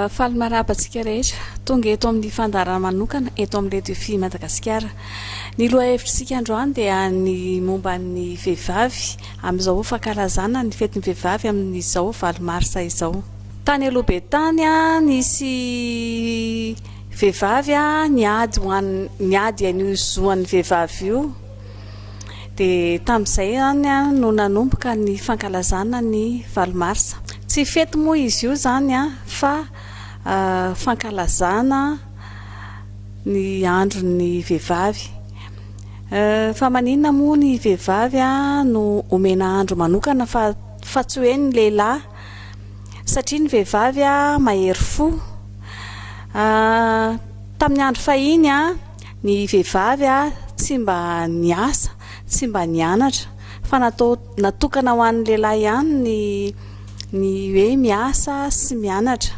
faly maraba antsika rehetra tonga eto amin'ny fandarana manokana eto amin'ny radio fi madagasikara ny loha hevitrisika androany dia ny momba ny vehivavy amin'izao fankalazana ny fetin'ny vehivavy amin'izao valo marsa izao. Tany aloha be tany, nisy vehivavy niady ho an, niady an'io zo an'ny vehivavy io. Dia tamin'izay izany no nanomboka ny fankalazana ny valo marsa. Tsy fety moa izy io izany fa fankalazana ny andron'ny vehivavy. Euh fa maninona moa ny vehivavy no omena andro manokana fa fa tsy hoe ny lehilahy satria ny vehivavy mahery fo ah, tamin'ny andro fahiny a ny vehivavy a tsy mba niasa tsy mba nianatra fa natao natokana ho an'ny lehilahy ihany ny ny hoe miasa sy mianatra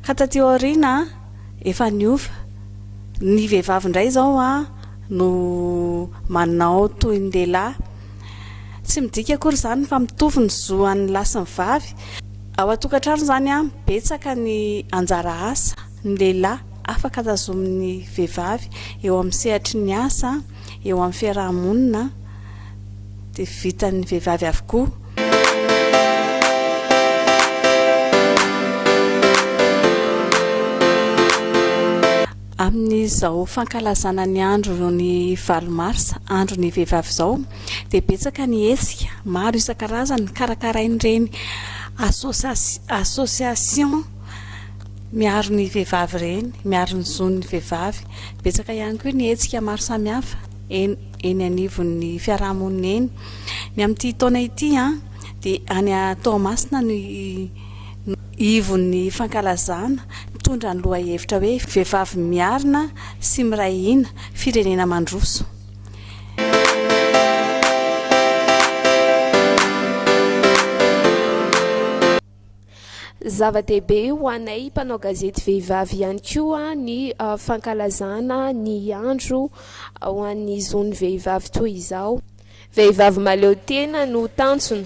ka taty aoriana efa niova, ny vehivavy indray izao an no manao toy ny lehilahy, tsy midika akory izany fa mitovy ny zo an'ny lahy sy ny vavy, ao an-tokantrano izany an betsaka ny anjara asa ny lehilahy afaka tazomin'ny vehivavy eo amin'ny sehatry ny asa, eo amin'ny fiaraha-monina dia vitan'ny vehivavy avokoa. Amin'izao fankalazana ny andro ny valo marsa, andro ny vehivavy izao, dia betsaka ny hetsika maro isan-karazany karakarain'ireny association miaro ny vehivavy ireny, miaro ny zon'ny vehivavy. Betsaka ihany koa ny hetsika maro samihafa eny eny anivon'ny fiarahamonina eny. Ny amin'ity taona ity dia any Toamasina no ivon'ny fankalazana mitondra ny lohahevitra hoe Vehivavy miarina sy miray hina, firenena mandroso. Zava-dehibe ho anay mpanao gazety vehivavy ihany koa ny fankalazana ny andro ho an'ny zon'ny vehivavy toy izao. Vehivavy mahaleo tena no tanjona.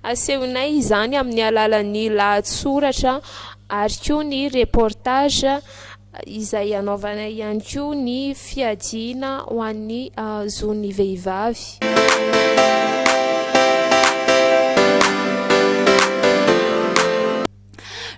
Asehonay izany amin'ny alalan'ny lahatsoratra ary koa ny reportage. izay hanaovana ihany koa ny fiadiana ho an'ny zon'ny vehivavy.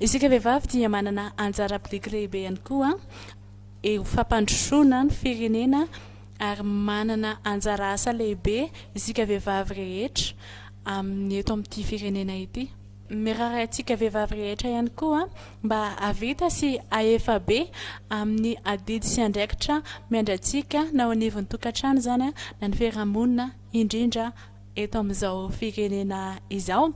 Isika vehivavy dia manana anjara biriky lehibe ihany koa eo fampandrosoana ny firenena ary manana anjara asa lehibe isika vehivavy rehetra amin'ny eto amin'ity firenena ity. Mirary antsika vehivavy rehetra ihany koa mba hahavita sy hahefa be amin'ny adidy sy andraikitra miandry antsika na ao anivon'ny tokantrano izany na ny fiarahamonina indrindra eto amin'izao firenena izao.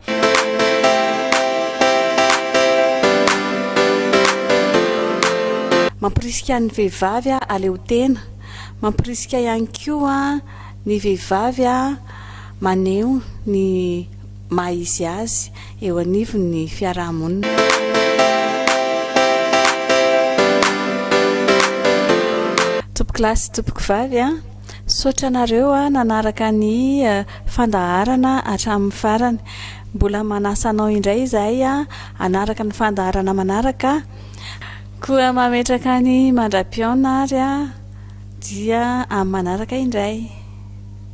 Mamporisika ny vehivavy haleotena, mamporisika ihany koa ny vehivavy maneho ny maha izy azy eo anivon'ny fiaraha-monina. Tompokolahy sy tompokovavy a! Misaotra anareo nanaraka ny fandaharana hatramin'ny farany. Mbola manasa anao indray izahay hanaraka ny fandaharana manaraka. Koa mametraka ny mandra-pihaona ary dia amin'ny manaraka indray.